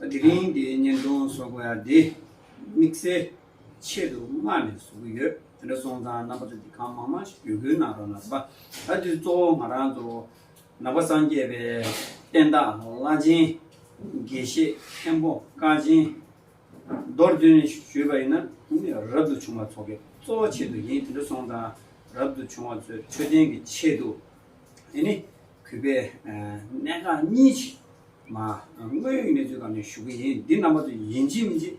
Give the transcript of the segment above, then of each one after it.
དེ་རིང་འདིའི་བརྙན་ཐུང་བཟོ་དགོས་ཡ་འདི་དམིགས་བསལ་ཆེད་དུ་མངགས་ནས་བཟོ་གི་ཡོད་དེ་འདྲ་སོང་ཙང་རྣམ་པ་ཚོ་འདི་གང་མང་མང་ཞིག་བརྒྱུད་སྐུལ་གནང་རོགས་ན་ཟབ་ད་དུས་གཙོ་བོ་ང་རང་ཚོ་ནང་པ་སངས་རྒྱས་པའི་བསྟན་བདག་བླ་ཆེན་དགེ་བཤེས་མཁན་པོ་བཀའ་ཆེན་རྡོར་བཙུན་ཞུས་པ་ཡིན་ན་རབ་ཏུ་བྱུང་བ་ཚོ་གི་གཙོ་བོ་ཆེད་དུ་ཡིན་དེ་འདྲ་སོང་ཙང་རབ་ཏུ་བྱུང་བ་ཚོས་འཕྲོད་བསྟེན་གི་ཆེད་དུ་ཨེ་ནི་གུས་པས་གནད་འགག་གཉིས་ཆེད། མ། དངོས་ཡོད་གནས་ཚུལ་དང་ནི་ཞུ་གི་ཡིན་འདི་རྣམ་པ་ཚོ་ཡིན་གཅིག་མིན་གཅིག།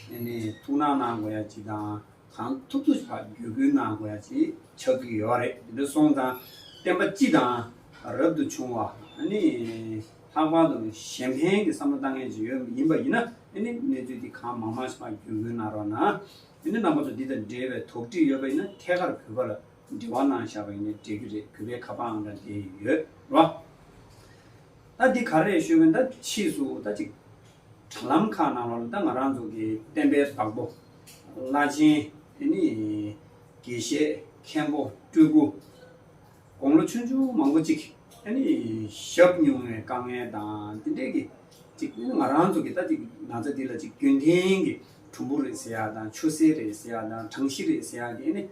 དེ་ནི་ཐུགས་སྣང་གནང་དགོས་ཡ་གཅིག་དང་གང་ཐུབ་ཐུབ་བར་བརྒྱུད་བསྐུལ་གནང་དགོས་ཡ་གཅིག་ཆགས་ཀྱི་ཡོད་རེད་དེ་འདྲ་སོང་ཙང་བསྟན་པ་སྤྱི་དང་རབ་ཏུ་བྱུང་བ་ནི་ལྷག་པར་དུ་གཞན་ཕན་གྱི་བསམ་བློ་བཏང་མཁན་ཅིག་ཡོད་ཡིན་པ་ཡིན་ན་དེ་ནི་གནས་ཚུལ་འདི་གང་མང་མང་ཞིག་བར་བརྒྱུད་བསྐུལ་གནང་རོགས་གནང། དེ་ནི་རྣམ་པ་ཚོ་འདི་དང་འབྲེལ་བའི་དོགས་འདྲི་ཡོད་པ་ཡིན་ན་ཐད་ཀར་བོད་པ་ལ་འབྲེལ་བ་ནང་བཞག་པ་ཡིན་ན་འགྲིག་གི་རེད་གུས་པའི་ཁ་པའང་འདྲ་དེ་ཡོད་རོ། ད་འདི་ག་རེད་ཤོད་གི་ད་ཕྱིས་སུ་ད་ཅིག་དྲ་ལམ་ཁག་ནང་ལོག་ནས་ད་ང་རང་ཚོ་གི་བསྟན་པའི་བདག་པོ་བླ་ཆེན་དེ་ནི་དགེ་བཤེས་མཁན་པོ་སྤྲུལ་སྐུ་དགོང་ལོ་ཆུང་ཆུང་མང་པོ་ཅིག་གིས་ནི་ཞབས་མྱོང་བའི་དཀའ་ངལ་དང་དེ་འདྲས་ཀྱིས་ཅིག་ང་རང་ཚོ་གི་ད་ཅིག་ན་ཚ་འདི་ལ་ཅིག་རྒྱུན་ལྡན་གྱི་གྲུམ་བུ་རེད་ཟེར་ཡག་དང་ཆུ་སེར་རེད་ཟེར་ཡག་དང་གྲང་ཤི་རེད་ཟེར་ཡག་གིས་ནི།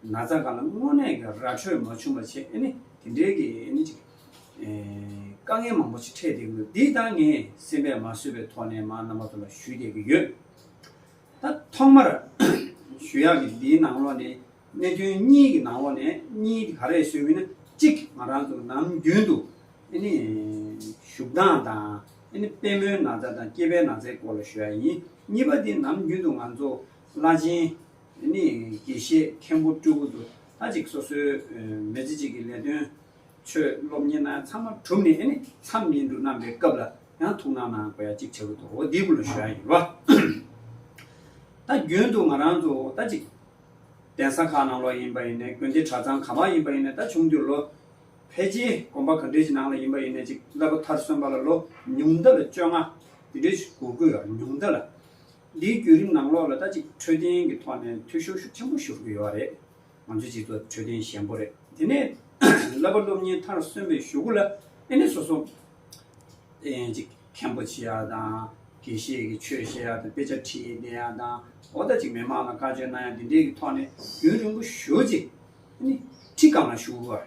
ན་ཚ་གང་ལ་དངོས་གནས་ཀྱི་ར་འཕྲོད་མ་བྱུང་བ་བྱས་ནས་དེ་འདྲའི་གི་ནི་ཅིག་དཀའ་ངལ་མང་པོ་ཅིག་འཕྲད་བསྡད་ཀྱི་འདུག་འདི་དག་ངས་སེམས་པས་མ་བཟོད་པའི་ཐོག་ནས་མང་རྣམ་པ་ཚོ་ལ་ཞུས་བསྡད་ཀྱི་ཡོད། ད་ཐོག་མར་ཞུ་ཡག་གི་འདིའི་ནང་ལོགས་ནས་གནད་དོན་གཉིས་ཀྱི་ནང་ལོགས་ནས་གཉིས་དེ་ག་རེ་ཞུ་མིན་ན་གཅིག་ང་རང་ཚོ་ནམ་རྒྱུན་དུ་ཨེ་ནི་བཞུགས་སྟངས་དང་ཨེ་ནི་དཔལ་མོའི་ན་ཚ་དང་སྐྱེས་པའི་ན་ཚའི་སྐོར་ལ་ཞུ་ཡག་ཡིན་གཉིས་པ་དེ་ནམ་རྒྱུན་དུ་ང་ཚོ་བླ་ཆེན། དེ་ནས་དགེ་བཤེས་མཁན་པོ་སྤྲུལ་སྐུ་དུ་ལྷ་གཅིག་སོ་སོའི་མི་ཚེ་གཅིག་གི་ལས་དོན་ཆོས་སློབ་གཉེར་ན་ཚང་མ་གྲུབ་ནས་ཨེ་ནི་མཚམས་ཉིན་འབྲུ་བསྣམས་པའི་སྐབས་ལ་ཡང་ཐུགས་སྣང་གནང་དགོས་ཡ་གཅིག་བྱེད་དགོས་འདུག་འདི་དགུ་ལ་ཞུ་ཡ་ཡིན། ད་རྒྱུན་དུ་ང་རང་ཚོ་ད་ཅིག་གདན་ས་ཁག་ནང་ལོགས་ཡིན་པ་ཡིན་ནས་དགོན་སྡེ་གྲྭ་ཚང་གང་བ་ཡིན་པ་ཡིན་ནས་ད་ཆུང་དུས་ལོ་ཕལ་རྗེས་དགོན་པ་ག་འདྲེ་ཅིག་ནང་ལ་ཡིན་པ་ཡིན་ནས་ཅིག་བསླབ་པ་མཐར་སོན་པ་ལ་ལོ་ཉུང་མདའ་ལ་བཅོ་ལྔ་དེ་འདྲེ་ཞིག་གུ་གུ་ཡ་ཉུང་མདའ་ལ་འདིའི་བརྒྱུད་རིམ་ནང་ལོགས་ལ་ད་ཅིག་འཕྲོད་བསྟེན་གྱི་ཐོག་ནས་འཐུས་ཤོར་ཤུགས་ཆེན་པོ་ཤོར་གྱི་ཡོད་རེད། ང་ཚོའི་སྤྱི་ཚོགས་འཕྲོད་བསྟེན་ཞན་པོ་རེད། དེ་ནས་བསླབ་པ་སློབ་གཉེར་མཐར་སོན་པའི་ཞོགས་གུ་ལ་ཨེ་ནས་སོ་སོ་ཨེ་ཅིག་མཁན་པོ་བྱེད་ཡ་དང། དགེ་བཤེས་ཀྱི་ཆོས་བཤད་ཡ་དང་དཔེ་ཆ་ཁྲིད་བསྡད་ཡ་དང། འོ་ད་ཅིག་མི་མང་ལ་བཀའ་ཆོས་གནང་ཡ་འདི་འདྲའི་གྱི་ཐོག་ནས་རྒྱུན་རིང་པོ་ཞོར་རྗེས། ཁྲི་སྒང་ལ་ཞུགས་བ།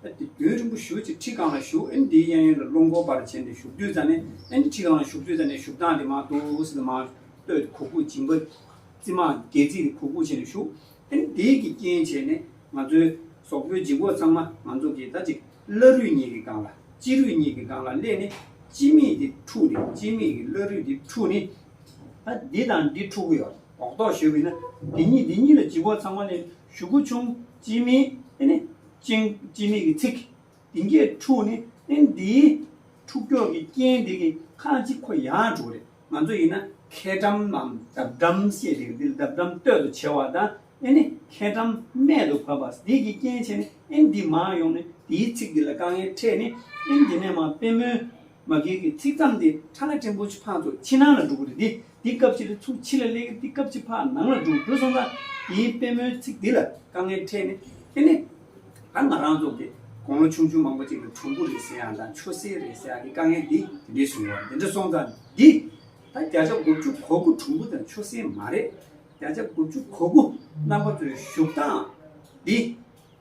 བདུན་རིང་པོ་བཞུགས་ཚེ་ཁྲི་གང་ལ་བཞུགས་ཨེ་འདིའི་གཡས་གཡོན་ལ་རླུང་འགོག་པར་བྱས་ནས་བཞུགས་དུས་ཙང་ནས་ཨེ་འདི་ཁྲི་གང་ལ་བཞུགས་དུས་ཙང་ནས་བཞུགས་སྟངས་དེ་མ་ཏོག་སིལ་མར་བསྟོད་གུ་གུ་སྦྱིན་པ། རྩི་མ་སྒལ་ཚིགས་རེ་གུ་གུ་བྱས་ནས་བཞུགས་ཨེ་འདི་ཀྱི་རྐྱེན་བྱས་ནས་ང་ཚོའི་ཟོག་པོའི་འཇིགས་འགོག་ཚང་མ་ང་ཚོ་གིས་ད་ཅིག་བླ་རུས་གཉིས་ཀྱི་སྒང་ལ་སྤྱི་རུས་གཉིས་ཀྱི་སྒང་ལ་སླེབས་ནས་སྤྱི་མིག་དེ་འཁྲུགས་ནས་སྤྱི་མིག་གི་བླ་རུས་དེ་འཁྲུགས་ནས་ད་འདི་དང་འདི་འཁྲུགས་གི་ཡོད་འོག་ཏོག་བཞུགས་ཡིན་ན་འདི་གཉིས་འདི་གཉིས་ལ་འཇིགས་འགོག་ཚང་མ་ནས་བཞུགས་གི་བྱུང། སྤྱི་མིང་ནི། ཅིང། སྤྱི་མིང་གི་ཚིག། དེ་འགའི་ཕྲུག་ནི། འདིའི། ཕྲུག་ཁྱོད་ཀྱི་རྐྱེན་དེ་གི། ཁང་གཅིག་ཁོ་ཡང་དྲུག་རེད། ང་ཚོ་ཡིན་ན། ཁེ་འགྲམ་ནམ། འདབ་འགྲམ་ཞེས་བྱ། འདི་འདབ་འགྲམ་སྟོད་དུ་བྱེ་བ་དང། ཁེ་འགྲམ། སྨད་དུ་བབས་པ། འདི་གི་རྐྱེན་བྱས་ནི། འདི་མར་ཡོང་ནི། དེའི་ཚིག་འདི་ལ་དཀའ་ངལ་འཕྲད་ནི། དེ་ནས་མ། དཔེ་མོའི། མ་རྒན་གྱི་ཚིག་ཙམ་དེ་ཁྲ་ལ་ཀྲེང་པོ་ཆི་ཕག་ཚོ་ཕྱི་ནང་ལ་འགྲོ་གི་རེད་དེ་དེ་སྐབས་ཕྱི་ལ་ཚུགས་ཕྱི་ལ་སླེབས་གི་དེ་སྐབས་ཆི་ཕག་ནང་ལ་འགྲོ་འགྲོ་སོང་ཙང་དེའི་དཔལ་མོའི་ཚིག་དེ་ལ་དཀའ་ངལ་འཕྲད་ནས་དེ་ནས་ད་ང་རང་ཚོ་དགེ་གོང་ལོ་ཆུང་ཆུང་མང་པོ་ཅིག་ལ་གྲོང་པོ་རེད་ཟེར་ཡང་དང་ཆོས་སྲིད་རེད་ཟེར་ཡང་དེ་དཀའ་ངལ་དེ་དེ་འདྲས་བྱུང་བ་དེ་འདྲ་སོང་ཙང་འདི་ད་བརྒྱ་ཆ་དགུ་བཅུ་གོ་དགུ་གྲོང་པོ་དང་ཆོས་སྲིད་མ་རེད་བརྒྱ་ཆ་དགུ་བཅུ་གོ་དགུ་རྣམ་པ་ཚོའི་བཞུགས་སྟངས་འདི།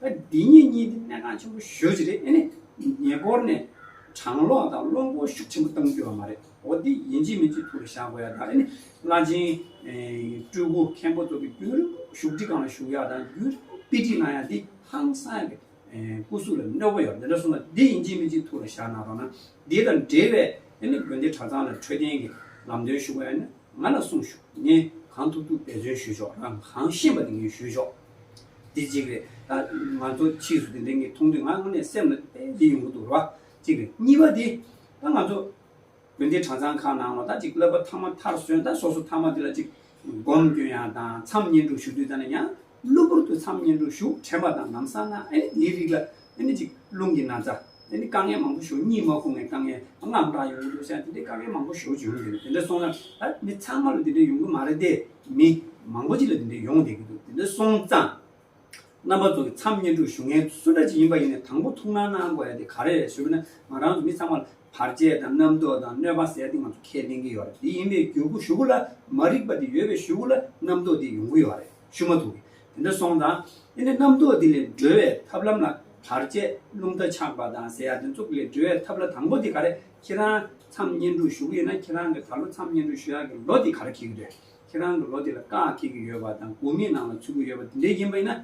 ཨ་འདི་གཉིས་གཉིས་ནི་གནད་འགག་ཆེན་པོ་ཤོས་ཅིག་རེད་ཨེ་ནས་ཉེ་འཁོར་ནས་གྲང་གློག་དང་གློག་མགོ་ཤུགས་ཆེན་པོ་བཏང་རྒྱུ་བ་མ་རེད་འོ་འདི་ཡན་ཅིན་མིན་ཚོས་ཐུགས་ལ་བཞག་དགོས་ཡག་དང་ཨེ་ནས་བླ་ཆེན་སྤྲུལ་སྐུ་མཁན་པོ་ཚོ་གི་རྒྱུན་རིང་པོ་བཞུགས་ཁྲི་གང་ལ་བཞུགས་ཡག་དང་རྒྱུན་རིང་པོ་དཔེ་ཁྲིད་གནང་ཡག་འདི་ཧང་སང་གི་སྐུ་གཟུགས་ལ་གནོད་པོ་ཡོད་འདི་འདྲ་གསུངས་ན་འདི་ཡན་ཅིན་མིན་ཚོས་ཐུགས་ལ་བཞག་གནང་རོགས་གནང་འདི་དང་འབྲེལ་བའི་ཨེ་ནས་དགོན་སྡེ་གྲྭ་ཚང་ལ་འཕྲོད་བསྟེན་གི་ལམ་སྟོན་ཞུ་དགོས་ཡག་ནི་ང་ལ་གསུངས་ཞུ་ངས་གང་ཐུབ་ཐུབ་འབད་བརྩོན་ཞུས་ཆོག་རང་གང་ཤེས་པ་དེ་ངས་ཞུས་ཆོག། དེ་གཅིག་རེད། ད་ང་ཚོ་ཕྱིས་སུ་དེ་འདྲའི་ངས་མཐོང་དུས་ང་དངོས་གནས་སེམས་ལ་དཔེ་འདི་ཡོང་གི་འདུག་རེད་བ། གཅིག་རེད། གཉིས་པ་དེ། ད་ང་ཚོ་དགོན་སྡེ་གྲྭ་ཚང་ཁག་ནང་ལ་ད་ཅིག་བསླབ་པ་ཐ་མ་མཐར་སོན་ད་སོ་སོ་ཐ་མ་དེ་ལ་ཅིག་སྒོམ་སྐྱོན་ཡང་དང་མཚམས་བསྙེན་སྒྲུབ་ཞུ་དུས་ད་ནི་ཡང་གློ་བུར་དུ་མཚམས་བསྙེན་སྒྲུབ་ཞུགས་དྲན་པ་དང་ནམ་བསམ་ན་ཨེ་དེའི་རིགས་ལ་དེ་ནི་གཅིག་རླུང་གི་ན་ཚ། དེ་ནི་དཀའ་ངལ་མང་པོ་ཞོ་གཉིས་མ་ཁུག་ནས་དཀའ་ངལ་ལྔ་བདག་ཡོང་གི་འདུག་བསམ་དེ་འདྲའི་དཀའ་ངལ་མང་པོ་ཞོ་བྱུང་གི་འདུག་དེ་འདྲ་སོང་ན་ད་མི་ཚང་མ་ལ་དེ་འདྲ་ཡོང་གི་མ་རེད་དེ་མི་མང་པོ་ཅིག་ལ་དེ་འདྲ་ཡོང་བསྡད་ཀྱི་འདུག་དེ་འདྲ་སོང་ཙང། རྣམ་པ་ཚོ་གི་མཚམས་བསྙེན་སྒྲུབ་ཞུ་མཁན་སུ་འདྲ་ཅིག་ཡིན་པ་ཡིན་ནས་དང་པོ་ཐུགས་སྣང་གནང་དགོས་ཡ་དེ་ག་རེ་རེད་ཞུ་ན་ང་རང་ཚོ་མི་ཚང་མ་ལ་བར་ཆད་དང་རྣམ་རྟོག་དང་གནོད་པ་བསལ་ཏེ་ང་ཚོ་ཁས་ལེན་གྱི་ཡོད་རེད་དེ་ཡིན་པའི་རྒྱུ་གུ་ཞུ་གུ་ལ་མ་རིག་པ་དེ་ཡོད་པའི་ཞུ་གུ་ལ་རྣམ་རྟོག་དེ་ཡོང་གི་ཡོད་རེད་ཞུ་མ་ཐུབ་གི་དེ་འདྲ་སོང་དང་དེ་ནས་རྣམ་རྟོག་འདི་ལས་སྒྲོལ་བའི་ཐབས་ལམ་ལ་དར་བཅས་རླུང་རྟ་འཆག་པ་དང་ཟེ་ཡ་དེ་ཚོ་ལས་སྒྲོལ་བའི་ཐབས་ལ་དང་པོ་དེ་ག་རེ་ཁྱེད་རང་མཚམས་བསྙེན་སྒྲུབ་ཞུ་གི་ཡོད་ན་ཁྱེད་རང་གི་ད་ལོ་མཚམས་བསྙེན་སྒྲུབ་ཞུ་ཡག་གི་ལོ་དེ་ག་རེ་ཁེལ་གི་རེད་ཁྱེད་རང་གི་ལོ་དེ་ལ་བཀག་ཁེལ་གི་ཡོད་པ་དང་དགོས་མེད་ནང་ལ་ཚུད་གི་ཡོད་པ་དེ་འདྲ་ཡིན་པ་ཡིན་ན་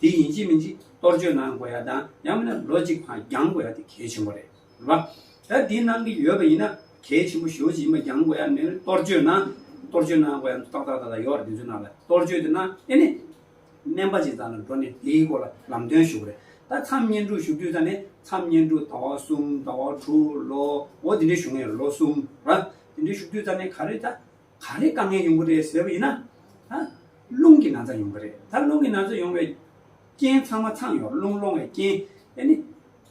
དེ་ཡིན་གཅིག་མིན་གཅིག་གཏོར་བཅོས་གནང་དགོས་ཡ་དང་ཡང་མིན་ན་ལོ་གཅིག་འགྱངས་དགོས་ཡ་དེ་གལ་ཆེན་པོ་རེད། རེད་བ། ད་དེ་གནང་གི་ཡོད་པ་ཡིན་ན་གལ་ཆེན་པོ་ཞོ་ཅིག་མ་རྒྱང་དགོས་ཡ་མེད་གཏོར་བཅོས་གནང། གཏོར་བཅོས་གནང་དགོས་ཡ་ཏག་ཏག་ཏག་ཏག་ཡོད་རེད་དེ་ཚོ་གནང་ལ་གཏོར་བཅོས་དེ་གནང་ཨེ་ནས། སྨན་པ་ཅིག་ཚང་ལ་འགྲོ་ནས་དེའི་སྐོར་ལ་ལམ་སྟོན་ཞུ་དགོས་རེད། ད་མཚམས་བསྙེན་སྒྲུབ་ཞུ་དུས་ད་ནས་མཚམས་བསྙེན་སྒྲུབ་ཟླ་བ་གསུམ་ཟླ་བ་དྲུག་ལོ་ངོ་དེ་འདྲའི་ཞུ་ངེས་རེད་ལོ་གསུམ་ར། དེ་འདྲའི་ཞུ་དུས་ད་ནས་ག་རེ་ད་ག་རེ་དཀའ་ངལ་ཡོང་གི་རེད་ཟེར་བ་ཡིན་ན། ད་རླུང་གི་ན་ཚ་ཡོང་གི་རེད་ད་རླུང་གི་ན་ཚ་ཡོང་བའི་རྐྱེན་ཚང་མ་ཚང་ཡོང་རླུང་སློང་བའི་རྐྱེན་ཨེ་ནས།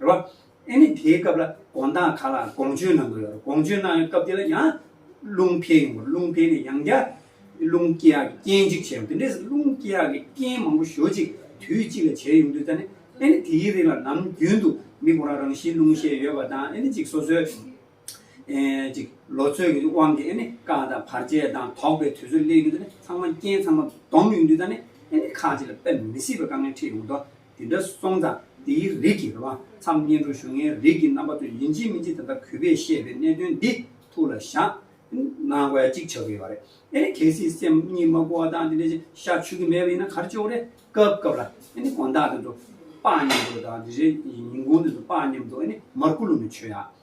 རེད་བ། ཨེ་ནི་དེའི་སྐབས་ལ་དགོངས་དག་ག་ལ་དགོངས་སྤྱོད་གནང་དགོས་ཡོད་རེད་དགོངས་སྤྱོད་གནང་ཡོད་སྐབས་དེ་ལ་ཡང་རླུང་འཕེལ་ཡོང་དགོས་རེད་རླུང་འཕེལ་ནས་ཡང་བསྐྱར་རླུང་སྐྱེ་ཡག་གི་རྐྱེན་གཅིག་བྱས་ཡོང་དེ་འདྲས་རླུང་སྐྱེ་ཡག་གི་རྐྱེན་མང་པོ་ཞོ་གཅིག་དུས་གཅིག་ལ་བྱས་ཡོང་དུས་ད་ནི་ཨེ་ནི་དེའི་རིགས་ལ་ནམ་རྒྱུན་དུ་མི་གོང་རང་རང་བཞིན་རླུང་ཤེད་ཡོད་པ་དང་ཨེ་ནི་ཅིག་སོ་སོའི་ཅིག། ལོ་ཚོད་ཀྱི་དབང་གིས་ནི་བཀག་དང་བར་ཆད་དང་དོགས་པའི་དུས་ཚོད་སླེབས་ཡུལ་དུ་ནི་ཚང་མ་རྐྱེན་ཚང་མ་སྡོམ་ཡོང་དུས་དང་ནི་ནི་ཁག་ཅིག་ལ་དཔེ་མི་སྲིད་པའི་དཀའ་ངལ་འཕྲད་ཡོང་དོ། དེ་འདྲ་སོང་ཙང་དེའི་རིགས་ཀྱི་རོ། མཚམས་བསྙེན་སྒྲུབ་ཞུ་ལྔའི་རིགས་ཀྱི་རྣམ་པ་ཚོ་ཡིན་གཅིག་མིན་གཅིག་ད་ལྟ་གུས་པས་བཤད་པའི་གནད་དོན་འདི་ཐུགས་ལ་བཞག་ནང་དགོས་ཅིག་བྱ་གི་ཡོད་རེད། ཨེ་ནི་གལ་སྲིད་སེམས་གཉིས་མ་གོ་བ་དང་དེ་འདྲ་ཅིག་ཤ་ཆུ་གི་མེད་པ་ཡིན་ན་གར་ཅོག་རེ་སྐབས་སྐབས་ལ་ཨེ་ནི་དགོན་བདག་དེ་ཚོ་དཔག་སྙམ་དུ་དང་དེ་རེ་ཉིན་དགོན་དེ་ཚོ་དཔག་སྙམ་དུ་ཨེ་ནི་མར་ཀུ་ལུ་ནི་ཆོས་ཡག།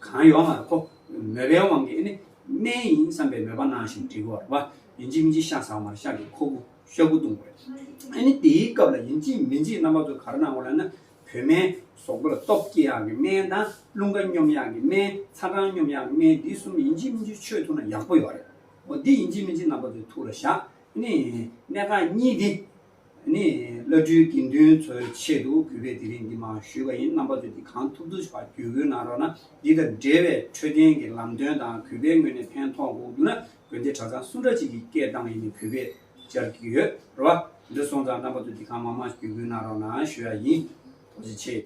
གང་ཡོང་བར་ཁོ་མོས་པའི་དབང་གིས་ནི་སྨན་ཡིན་བསམ་པའི་མོས་པ་གནང་ཞིང་དྲི་བར་བ་ཡིན་འཇིག་མི་འཇིག་ཤ་ཟ་བར་ཤ་གི་ཁོ་བོ་ཤ་བུ་བཏུང་བས། ཨ་ནི་དེའི་སྐབས་ལ་ཡིན་འཇིག་མི་འཇིག་རྣམ་པ་ཚོ་གར་སྣང་བ་ལ་ནི་བུད་མེད་ཟོག་པོ་ལ་སྟོབས་སྐྱེད་ཡག་གི་སྨན་དང་རླུང་ཁ་སྙོམས་ཡག་གི་སྨན་ཚ་གྲང་སྙོམས་ཡག་གི་སྨན་འདི་གསུམ་ཡིན་འཇིག་མི་འཇིག་ཆོས་ཐུག་ན་ཡག་པོ་ཡོད་རེད་འོ་འདི་ཡིན་འཇིག་མི་འཇིག་རྣམ་པ་ཚོའི་ཐུགས་ལ་བཞག་ཨ་ནི་ནད་རྐང་གཉིས་འདི། ནི་བླ་སྤྲུལ་དགེ་འདུན་ཚོའི་ཆེད་དུ་གུས་པས་དེ་རིང་འདི་མ་ཞུས་པ་ཡིན་རྣམ་པ་ཚོས་འདི་གང་ཐུབ་ཐུབ་བྱ་རྒྱུ་གུས་གནང་རོགས་གནང་འདི་དང་འབྲེལ་བའི་འཕྲོད་བསྟེན་གྱི་ལམ་སྟོན་དང་གུས་པའི་ངོས་ནས་ཕན་ཐོགས་འགོག་རྒྱུ་ན་དགོན་སྡེ་གྲྭ་ཚང་སུ་འདྲ་གཅིག་གི་སྐད་གདངས་ཡིན་ནི་གུས་པས་སྦྱར་གྱི་ཡོད་རེད་བ། འདི་སོང་ཙང་རྣམ་པ་ཚོས་འདི་གང་མང་མང་ཞིག་གུས་གུས་གནང་རོགས་གནང་ཞུ་ཡ་ཡིན། ཐུགས་རྗེ་ཆེ།